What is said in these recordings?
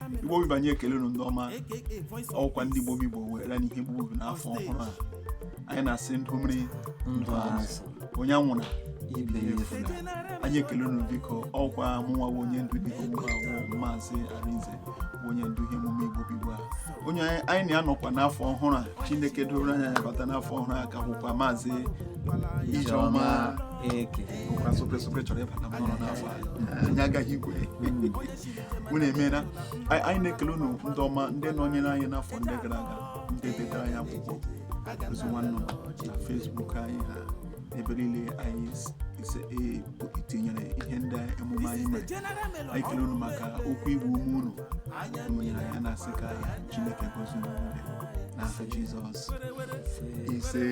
igbo bụ igbo anyị ekele unu ndị ọma ọkwa ndị igbo bụ igbo weela n'ihe igbo bụ igbo n'afọ ọhụrụ a anyị na-asị ndụ mmiri ndụ azụ onye anwụna ibe ya efula anyị ekele unu biko ọkwa mụnwa bụ onye ndu dịka mụnwa bụ maazị arinze bụ onye ndu ihe emume igbo bụ igbo a onye anyị- anyị na ya nọkwa n'afọ ọhụrụ a chineke duru anyị bata n'afọ ọhụrụ a ka bụkwa maazị ijeọma eke bụkwa sope sope chọrọ ịbata mmanụ n'afọ a anyị agaghị igwe unu emeela anyị anyị na-ekele unu ndị ọma ndị nọnyere anyị n'afọ ndị gara aga ndị detara anyị akwụkwọ ozi nwa nnụnụ na facebook anyị ha ebe niile anyị s- ise e- tinyere ihe ndị emume anyị mere anyị kele unu maka okwu ịgba ume unu unu nyere anyị na-asị ka chineke gozie unu niile n'aha jizọs ise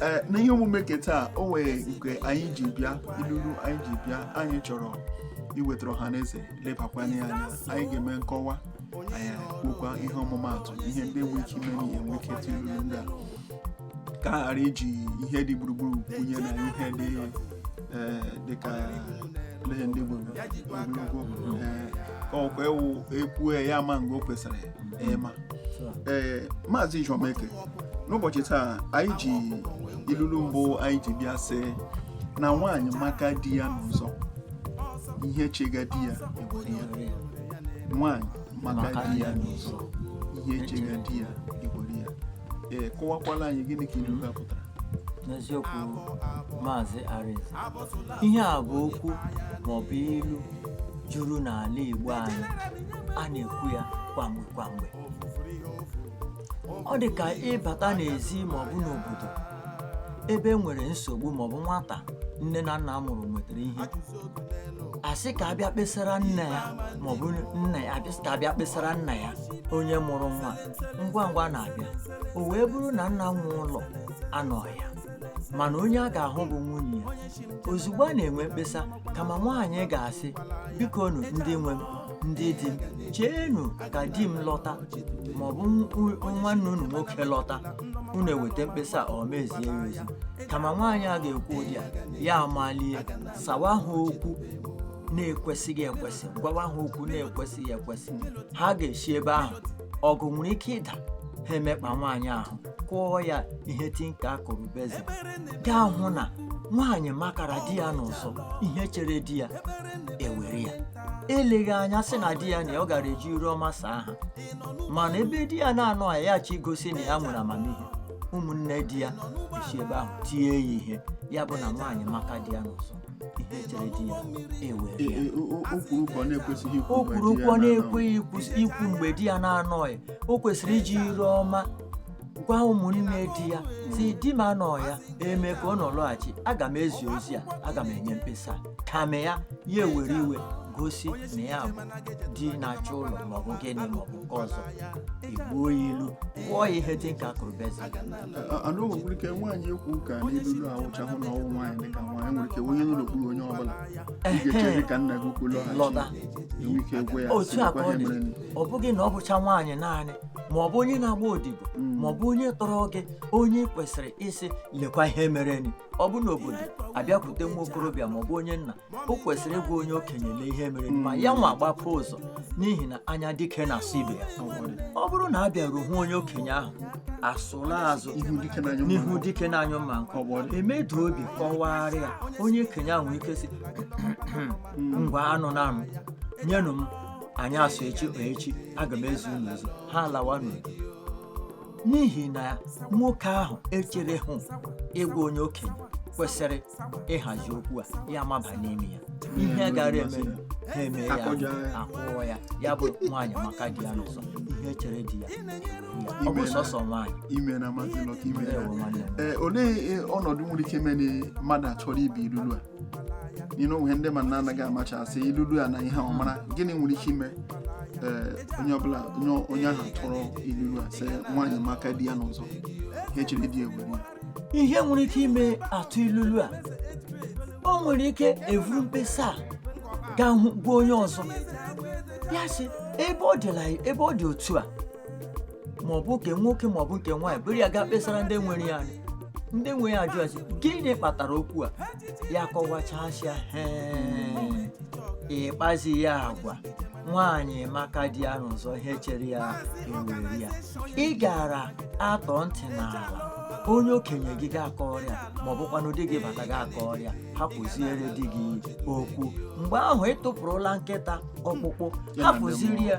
ee na ihe omume nke taa o nwere nke anyị ji bịa ilulu anyị ji bịa anyị chọrọ iwetara ọha na eze lebakwanye anya anyị ga-eme nkọwa anyị kwukwa ihe ọmụmaatụ ihe ndị nwere ike ime n'ihe e nwee ike ịtụ ilulu ndị a ka a ghara iji ihe dị gburugburu kwunye na ihe dị ee, dịka ihe ndị gburu ogologo ee, ka ọkwa ewu ekwue ya ma mgbe o kwesịrị ịma ee maazị Ijeọma Eke n'ụbọchị taa anyị ji ilulu mbụ anyị ji bịa sị na nwaanyị maka di ya n'ụzọ ihe chega di ya ewere ya nwaanyị maka di ya n'ụzọ ihe chega di ya ewere ya ee kọwakwala anyị gịnị ka ilulu a pụtara n'eziokwu maazị Arinze ihe a bụ okwu maọbụ ilu juru n'ala Igbo anyị a na-ekwu ya kwamgbe kwamgbe ọ dị ka ịbata n'ezi ma ọ bụ n'obodo ebe e nwere nsogbu ma ọ bụ nwata nne na nna mụrụ metara ihe asị ka abịa kpesara nne ya ma ọ bụ nna ya asị ka abịa kpesara nna ya onye mụrụ nwa ngwa ngwa na-abịa o wee bụrụ na nna nwe ụlọ anọghị ya mana onye a ga-ahụ bụ nwunye ya ozugbo a na-enwe mkpesa kama nwaanyị ga-asị bikonụ ndị nwe m ndị di m cheenụ ka di m lọta ma ọ bụ nw- nwanne unu nwoke lọta unu eweta mkpesa a, ọ mezie ya emezi kama nwaanyị a ga-ekwu ụdị a ya amalie sawa ha okwu na-ekwesịghị ekwesị gwawa ha okwu na-ekwesịghị ekwesị ha ga-esi ebe ahụ ọgụ nwere ike ịda ha emekpa nwaanyị ahụ kụọ ya ihe tinka kụrụ basin ị ga-ahụ na nwaanyị makara di ya n'ụzọ ihe chere di ya ewere ya eleghị anya sị na di ya nọ ya ọ gara eji iru ọma saa ha mana ebe di ya na-anọghị ya achọ igosi na ya nwere amamihe ụmụnne di ya esi ebe ahụ tie ya ihe ya bụ na nwaanyị maka di ya n'ụzọ ihe chere di ya ewere ya o kwuru okwu ọ na-ekwesịghị ikwu mgbe di ya na-anọghị o kwesịrị iji iru ọma gwa ụmụnne di ya sị di m anọọ ya eme ka ọ nọ lọghachi aga m ezi ozi a aga m enye mkpesa kama ya ya ewere iwe gosi na ya bụ di na-achị ụlọ maọbụ gịnị maọbụ nke ọzọ igbuo ya ilu kụọ ya ihe dị ka akụrụbeze nwere ike nwaanyị ekwu ka n'ilulu a awụchahụ na ọ wụ nwaanyị dịka nwaanyị nwere ike onye nọ n'okpuru onye ọbụla ị ga-echere ka nna gị ukwu lọghachi lọta enwe ike gwa ya otu a ka ọ dị ọ bụghị na ọ bụcha nwaanyị naanị ma ọ bụ onye na-agba odibo ma ọ bụ onye tọrọ gị onye kwesịrị ịsị lekwa ihe mereni ọ bụ n'obodo abịakwute nwa okorobịa ma ọ bụ onye nna o kwesịrị ịgwa onye okenye lee ihe mereni ma ya nwa gbapụ ụzọ n'ihi na anya dike na-asụ ibe ya ọ bụrụ na a bịaruo hụ onye okenye ahụ asụla azụ n'ihu dike na-anyụ mma nkọ emeda obi kọwaara ya onye okenye ahụ nwere ike sị ngwanụ naanụ nyenụ m anyasị echi aga m ezi unu ozi ha alawa n'udo n'ihi na nwoke ahụ echerehụ ịgwa onye okenye kwesịrị ịhazi okwu a ya maba n'ime ya ihe gara eme ha eme ya akụọ ya ya bụ nwaanyị maka di ya n'ụzọ ihe chere di ya ọ bụ sọsọ nwaanyị olee ọnọdụ nwere ike ime na mmadụ achọrọ ibi ilulu a o nwere ndị ma na-anaghị amachasị ilulu a na ihe ọ mara gịnị nwere ike ime ee onye ọbụla onye onye ahụ a tụrụ ilulu a sị nwaanyị maka di ya n'ụzọ ihe chere di ewere ya ihe nwere ike ime atụ ilulu a o nwere ike evuru mkpesa a gaa hụ gwa onye ọzọ ya sị ebe ọ dịla ebe ọ dị otu a ma ọ bụ nke nwoke ma ọ bụ nke nwaanyị buru ya gaa kpesara ndị nwere ya anya ndị nwe ya ajụọ sị gịnị kpatara okwu a ya kọwachasịa hee ịkpazi ya agwa nwaanyị maka di ya n'ụzọ ihe chere ya ewere ya ị gara atọ ntị n'ala onye okenye gị gaa kọọrọ ya ma ọ bụkwanụ di gị bata gaa kọọrọ ya hapụziere di gị okwu mgbe ahụ ị tụpụrụla nkịta ọkpụkpụ hapụziri ya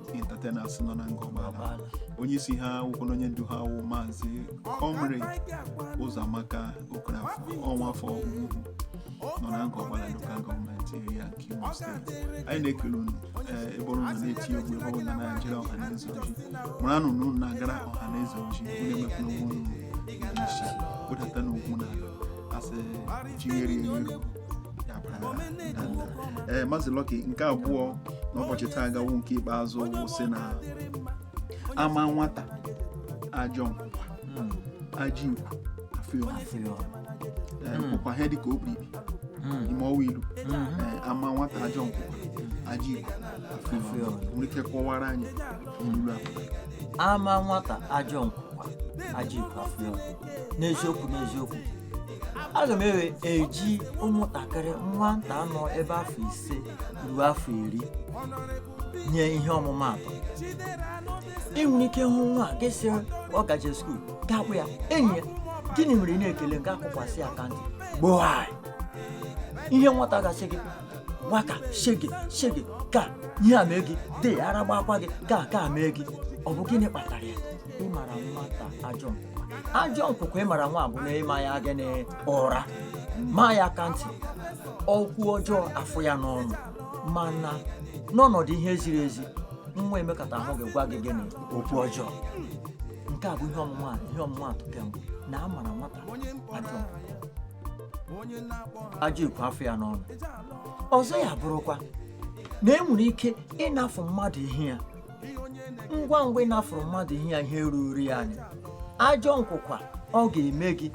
ndị entertainers nọ na Ngor Okpala onye isi ha wụkwanụ onye ndu ha wụ maazị comrade ụzọamaka okafọ ọnwa afọ nọ na Ngor Okpala local government area nke imo steeti anyị na-ekele unu ee ebe ọbụla na-eti egwu ebe ọbụla na-ejere ọha na eze ozi mara na unu na-agara ọha na eze ozi unu emekwa n'ugwu unu isi kpụdata n'ugwu na asị jigheri eri ee Maazị Lucky nke abụọ n'ụbọchị taa ga-awụ nke ikpeazụ wụ sị na ama nwata ajọ nkwụkwa ajọ ikwu afụ ya afụ ya ọnụ. Ee, nkwụkwa ihe dịka okpiri ime ọwa ilu Ee, ama nwata ajọ nkwụkwa ajọ ikwu afụ ya ọnụ. nwere ike kọwara anyị ilu a ama nwata ajọ nkwụkwa ajọ ikwu afụ ya ọnụ. n'eziokwu n'eziokwu aga m ewe eji ụmụntakịrị nwata nọ ebe afọ ise ruo afọ iri nye ihe ọmụmaatụ ị nwere ike hụ nwa a gị sị ọ gaje skuul ga-akpọ ya enyi ya gịnị mere ị na-ekele gị akụkwasị ya aka ntị gboaị ihe nwata ga-asị gị waka shege shege ka ihe a mee gị de ara gbakwa gị ka ka mee gị ọ bụ gịnị kpatara ya ịmara nwata ajọ ajọ nkwụkwa ịmara nwa bụ na ịma ya gịnị ụra maa ya aka ntị okwu ọjọọ afụ ya n'ọnụ mana n'ọnọdụ ihe ziri ezi nwa emekatahụ gwa gị gịnị okwu ọjọọ nke a bụ ihe ọmụma ihe ọmụmaatụ nke mbụ na a mara nwata ajọ ajọ ikwu afụ ya n'ọnụ ọzọ ya bụrụkwa na e nwere ike ịnafụ mmadụ ihe ya ngwa ngwa ị nafụrụ mmadụ ihe ya ihe ruru ya anya ajọ nkwụkwa ọ ga-eme gị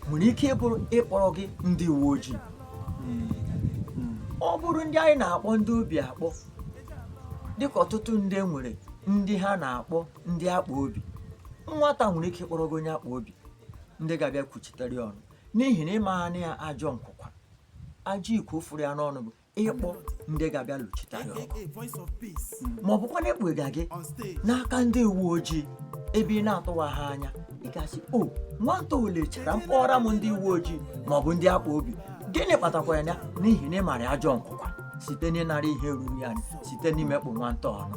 nwere ike ịbụrụ ịkpọrọ gị ndị uwe ojii ọ bụrụ ndị anyị na-akpọ ndị obi akpọ dịka ọtụtụ ndị nwere ndị ha na-akpọ ndị akpa obi nwata nwere ike ịkpọrọ gị onye akpa obi ndị ga-abịa kwuchitere ya ọnụ n'ihi na ị maana ya ajọ nkwụkwa ajọ ikwu fụrụ ya n'ọnụ bụ ịkpọ ndị ga-abịa lụchitere ya ọgụ ma ọ bụkwa na ịkpụga gị n'aka ndị uwe ojii ebe ị na-atụwaha anya ị ga-asị o nwata o lechara m kpọọra m ndị uwe ojii ma ọ bụ ndị akpa obi gịnị kpatakwara ya n'ihi na ị mara ajọ nkwụkwa site n'ịnara ihe ruru ya anya site n'imekpụ nwata ọnụ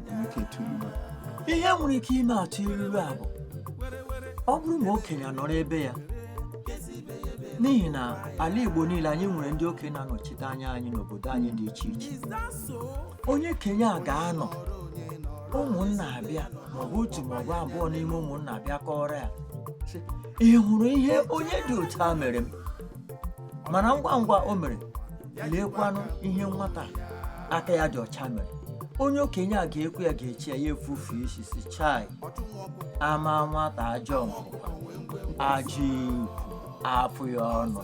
ihe nwere ike ime a tụọ ilulu a bụ ọ bụrụ na okenye nọrọ ebe ya n'ihi na ala Igbo niile anyị nwere ndị okenye na-anọchite anya anyị n'obodo anyị dị iche iche onye okenye a ga-anọ ụmụnna abịa maọbụ otu maọbụ abụọ n'ime ụmụnna abịa kọọrọ ya ị hụrụ ihe onye dị otu a mere m mana ngwa ngwa o mere leekwanụ ihe nwata aka ya dị ọcha mere onye okenye a ga-ekwu ya ga-eche ya ya efufe isi sị chai ama nwata ajọ nkwụkwa ajọ ikwu afụ ya ọnụ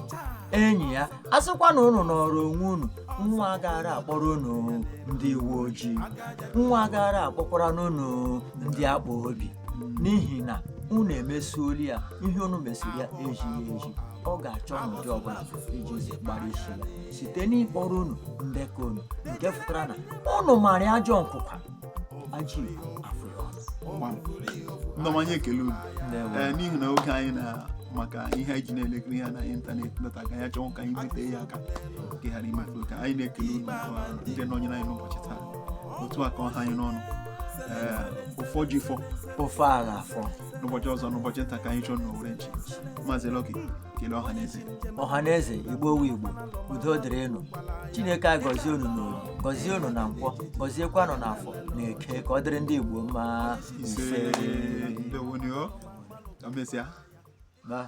enyi ya a sịkwa na unu nọrọ onwe unu nwa agara akpọrọ unu ndị uwe ojii nwa agara akpọkwaranụ unu ndị akpa obi n'ihi na unu emesuoli ya ihe unu mesiri ya ezighị ezi ọ ga-achọ n'ụdị ọbụla iji zi gbara isi ya site n'ịkpọrọ unu ndekọ unu nke pụtara na unu mara ya ajọ nkwụkwa ajị afọ ya ọnụ ndị ọma anyị ekele unu Ndewo. ee n'ihi na oge anyị na maka ihe anyị ji na-elekiri ya na ịntanetị nọta ka anyị achọghị ka anyị bute ya aka ka ị ghara imefu oke anyị na-ekele unu maka ndị nọnyere anyị n'ụbọchị taa otu a ka ọ ha anyị n'ọnụ ee ụfọ ji fọ ofe agha afọ n'ụbọchị ọzọ n'ụbọchị nta ka anyị chụọ n'owere nchi maazị Lucky kelee ọha na eze ọha na eze igbo wu igbo udo dịrị unu chineke anyị gọzie unu n'orie gọzie unu na nkwọ gọziekwa unu na afọ na eke ka ọ dịrị ndị igbo mma ise ndewo nụ o ka emesịa Bye.